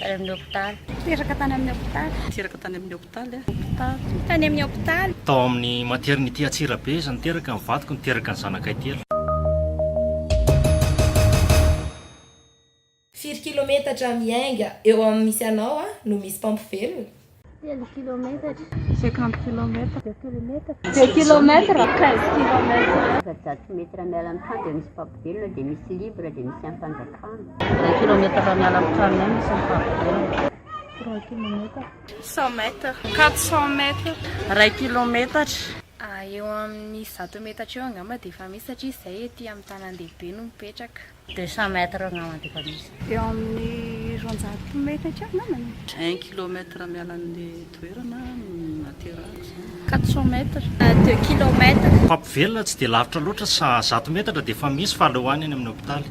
Tany amin'ny hopitaly. Teraka tany amin'ny hopitaly. Teraka tany amin'ny hopitaly aho. Hopitaly. Tany amin'ny hopitaly. Tao amin'ny maternité Antsirabe izy no teraka, ny vadiko no teraka ny zanakay telo. Firy kilometatra miainga eo amin'ny misy anao no misy mpampivelona? Telo kilometatra. Cinquante kilometatra. Deux kilometatra. Deux kilometatra. Quinze kilometatra. Efajato metatra miala amin'ny trano dia misy mpampivelo dia misy libre dia misy ampanjakana. Deux kilometatra miala amin'ny trano dia misy mpampivelo. Trois kilometatra. Cent mètres. Quatre cent mètres. Ray kilometatra. Eo amin'ny zato metatra eo angamba dia efa misy satria izahay ety amin'ny tanandehibe no mipetraka. Deux cent mètres angamba dia efa misy. Eo amin'ny roanjato mètres eo angambany. Un kilomètre miala an'ilay toerana no naterahako izany. Quatre cent mètres. Deux kilomètres. Mpampivelona tsy dia lavitra loatra sa zato metatra dia efa misy fa aleo any any amin'ny hopitaly.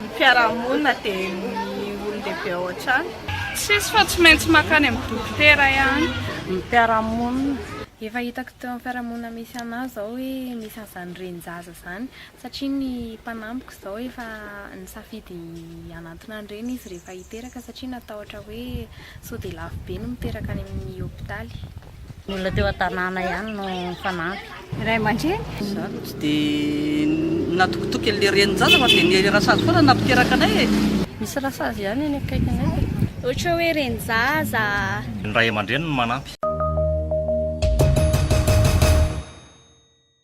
Ny mpiara-monina dia ny olon-dehibe ao an-trano. Tsisy fa tsy maintsy mankany amin'ny dokotera ihany ny mpiara-monina. Efa hitako teo amin'ny fiarahamonina misy anah izao hoe misy an'izany renin-jaza izany satria ny mpanampiko izao efa nisafidy hanantona ny reniny izy rehefa hiteraka satria natahotra hoe sao dia lafo be ny miteraka any amin'ny hopitaly. Ny olona teo an-tanàna ihany no nifanampy. Ny ray aman-dreny. Izaho aloha tsy dia natokitoky an'ilay renin-jaza fa dia ny rasazy foana nampiteraka anay e. Misy rasazy ihany eny akaikinay e. Ohatra hoe renin-jaza. Ny ray aman-dreny no manampy.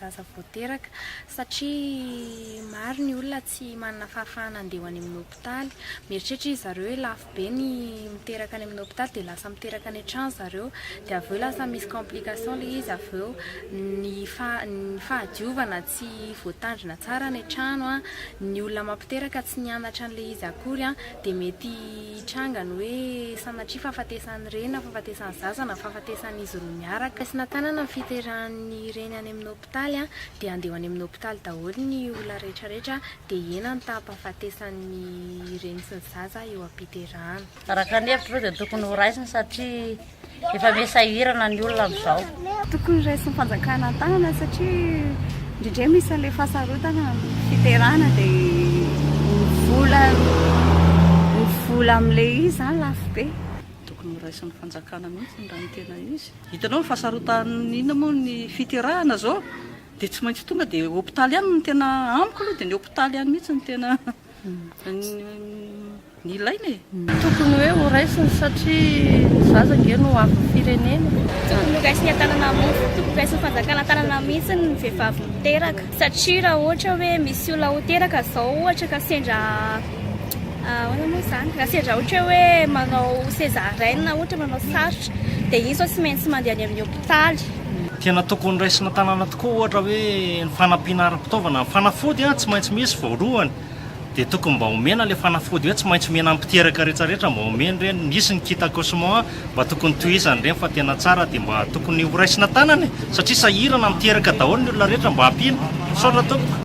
zaza vao teraka satria maro ny olona tsy manana fahafahana handeha ho any amin'ny hopitaly. Mieritreritra izy zareo hoe lafo be ny miteraka any amin'ny hopitaly dia lasa miteraka any an-trano zareo dia avy eo lasa misy complication ilay izy avy eo ny ny fahadiovana tsy voatandrina tsara any an-trano an, ny olona mampiteraka tsy nianatra an'ilay izy akory an dia mety hitranga ny hoe sanatria fahafatesan'ny reny na fahafatesan'ny zaza na fahafatesan'izy roa miaraka. Raisina tanana ny fiterahan'ny reny any amin'ny hopitaly dia andeha ho any amin'ny hopitaly daholo ny olona rehetra rehetra dia hihena ny taham-pahafatesan'ny reny sy ny zaza eo am-piterahana. Araka ny hevitr'ireo dia tokony ho raisina satria Efa me sahirana ny olona amizao. Tokony raisin'ny fanjakana an-tanana satria indrindray misy an'ilay fahasarotana amin'ny fiterana dia ny vola ny vola amin'ilay izy izany lafo be. Tokony ho raisin'ny fanjakana mihitsy raha ny tena izy. Hitanao ny fahasarotan'ny inona moa ny fiterahana izao dia tsy maintsy tonga dia hopitaly ihany no tena amiko aloha dia ny hopitaly ihany mihitsy no tena. Ny ilaina e! Tokony hoe ho raisiny satria ny zaza ange no avin'ny firenena. Tokony ho raisiny an-tanana mihitsy, tokony raisin'ny fanjakana an-tanana mihitsy ny vehivavy miteraka satria raha ohatra hoe misy olona ho teraka izao ohatra ka sendra ahoana moa izany? Raha sendra ohatra hoe manao césarienne ohatra manao sarotra dia izy izao tsy maintsy mandeha any amin'ny hopitaly. Tena tokony raisina tanana tokoa ohatra hoe ny fanampiana ara-pitaovana. Ny fanafody tsy maintsy misy voalohany, dia tokony mba omena ilay fanafody hoe tsy maintsy omena an'ny mpiteraka rehetra rehetra mba omeny ireny. Nisy ny kit accouchement mba tokony tohizany ireny fa tena tsara dia mba tokony ho raisina tanana e! Satria sahirana miteraka daholo ny olona rehetra mba ampiana. Misaotra tompoko.